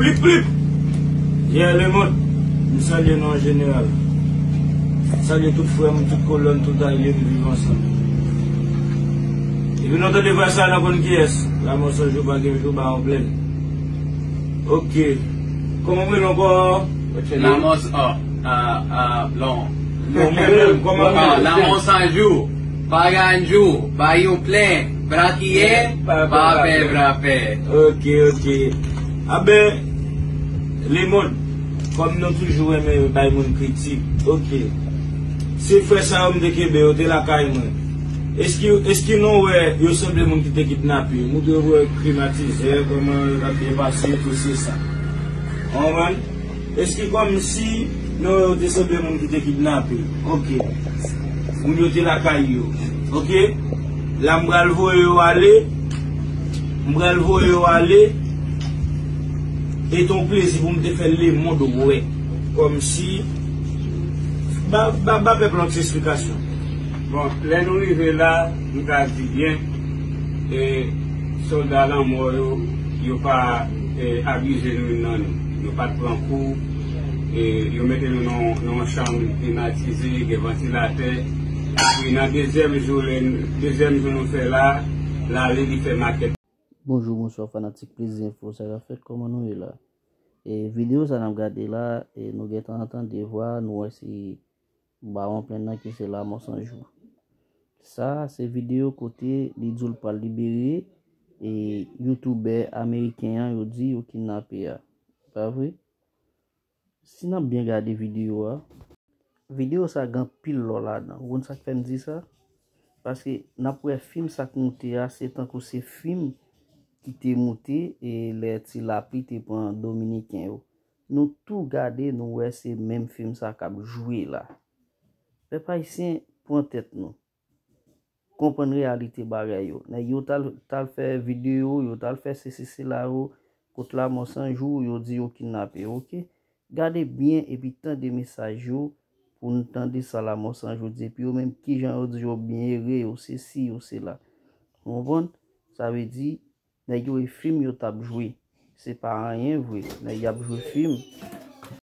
Plip plip! Yeah le mond! M salye nou an jeneral. M salye tout frè m, tout kolè m, tout alye nou viv ansanm. Depi nou tande vwa sa a nou konn kiyès. Lanmò san jou pa gen jou ba yon plèn. Ok. Kòman m rele ankò? Lanmò san lon. Lanmò san jou pa gen jou ba yon plèn. Brakiye pa pè bra pè. Ok ok Aben le mond kom nou toujou renmen bay moun kritik ok se frè sa yo m te kenbe yo te lakay mwen eski nou wè yo sanble moun ki te kidnape yo nou dwe wè klimatizè koman yo tap byen pase tout se sa ou konprann. Eske kom si non yo te sanble moun ki te kidnape ok moun yo te lakay yo ok la m pral voye yo ale m pral voye yo ale e ton plezi pou m te fè le mond wè kom si ba ba pèp lan ti esplikasyon. Bon lè nou rive la m ka di byen e solda lanmò yo yo pa abize nou nan nou. Yo pat pran kou, yo mete nou nan yon chanm klimatize, gen vantilatè. Epi nan dezyèm jou nou fè la, lale li fè makèt. Bonjou bonswa fanatik plezi enfo sa ka fèt kòman nou ye la e video sa nap gade la e nou gentan tande vwa nou wè se Bawon plenn nan ki se Lamò San Jou. Sa a se videyo kote li di l pral libere e youtoubè ameriken an yo di yo kidnape a. Pa vre? Si n ap byen gade videyo a. Videyo sa gen anpil lò ladan. Ou konn sa k fè m di sa? Paske n ap wè fim sa k moute a se tankou se fim ki te moute lè ti lapli te pran dominiken yo. Nou tou gade nou wè se menm film sa kap jwe la. Pèp ayisyen pran tèt nou. Konprann reyalite bagay yo. Nèg yo tal fè video, yo tal fè sesi sela yo kot lamò san jou yo di yo kidnape yo ok. Gade byen epi tande mesaj yo pou nou tande sa lamò san jou di epi yo menm kijan yo di yo byen ere yo sesi yo sela. Ou konprann? Sa vle di Nèg yo e film yo tap jwe. Se pa anyen vre nèg yap jwe film.